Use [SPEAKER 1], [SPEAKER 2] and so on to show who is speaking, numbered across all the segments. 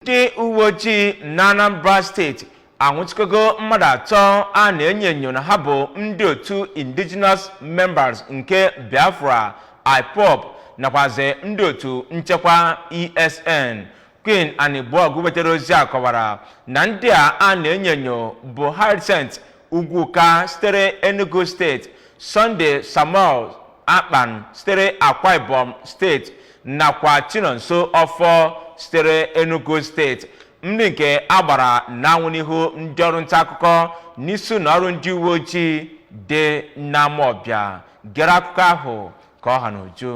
[SPEAKER 1] ndị uwe ojii na anambra steeti anwụchikọgo mmadụ atọ a na-enyo enyo na ha bụ ndị otu indigenous members nke biafra ipob nakwazi ndị otu nchekwa esn queen anigbogu wetara ozi a kọwara na ndị a a na-enyo enyo bụ hyacinth ugwuka sitere enugu steeti sunday samuel akpan sitere akwa ibom steeti nakwa chinonso ọfọ sitere enugu steeti ndị nke a gbara n'anwụ n'ihu ndị ọrụ nta akụkọ n'isi ụnọ ọrụ ndị uwe ojii dị n'amawbia gere akụkọ ahụ ka ọ ha n'uju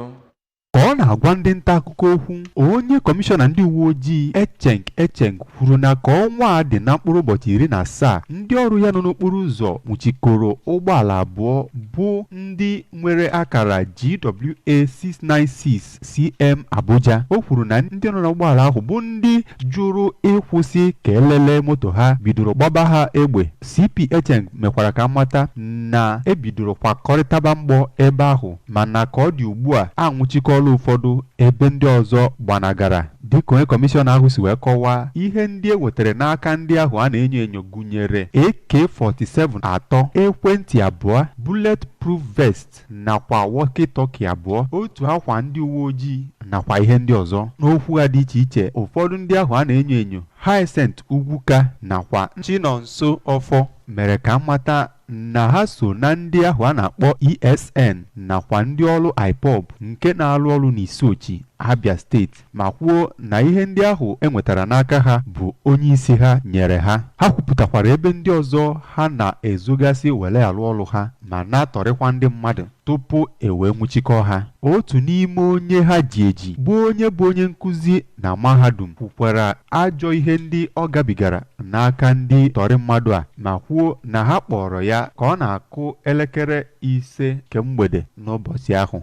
[SPEAKER 1] ka ọ
[SPEAKER 2] na-agwa ndị nta akụkọ okwu onye kọmishọna ndị uwe ojii Echeng Echeng kwuru na ka ọnwa a dị na mkpụrụ ụbọchị iri na asaa ndị ọrụ ya nọ n'okporo ụzọ nwụchikọrọ ụgbọala abụọ bụ ndị nwere akara GWA 696 CM Abuja o kwuru na ndị nọ n'ụgbọala ahụ bụ ndị jụrụ ịkwụsị ka e lele moto ha bidoro gbaba ha egbe CP Echeng mekwara ka a mata na e bidoro kwakọrịtaba mgbọ ebe ahụ mana ka ọ dị ugbu a a nwụchikọọla ụfọdụ ebe ndị ọzọ gbanagara. Dịka onye kọmishọna ahụ si wee kọwaa, ihe ndị e nwetara n'aka ndị ahụ a na-enyo enyo gụnyere AK-47 atọ, ekwentị abụọ, bullet proof vest, nakwa walkie-talkie abụọ, otu akwa ndị uwe ojii nakwa ihe ndị ọzọ. N'okwu ha dị iche iche, ụfọdụ ndị ahụ a na-enyo enyo, Hyacinth Ugwuka nakwa Chinonso Offor mere ka a mata na ha so na ndị ahụ a na-akpọ ESN nakwa ndị ọrụ IPOB nke na-alụ ọrụ n'Isuochi, Abia steeti. ma kwuo na ihe ndị ahụ e nwetara n'aka ha bụ onye isi ha nyere ha ha kwupụtakwara ebe ndị ọzọ ha na-ezogasị were alụ ọrụ ha ma na-atọrịkwa ndị mmadụ tupu e wee nwụchikọọ ha otu n'ime onye ha ji eji bụ onye bụ onye nkụzi na mahadum kwukwara ajọ ihe ndị ọ gabigara n'aka ndị tọrị mmadụ a ma kwuo na ha kpọọrọ ya ka ọ na-akụ elekere ise nke mgbede n'ụbọchị ahụ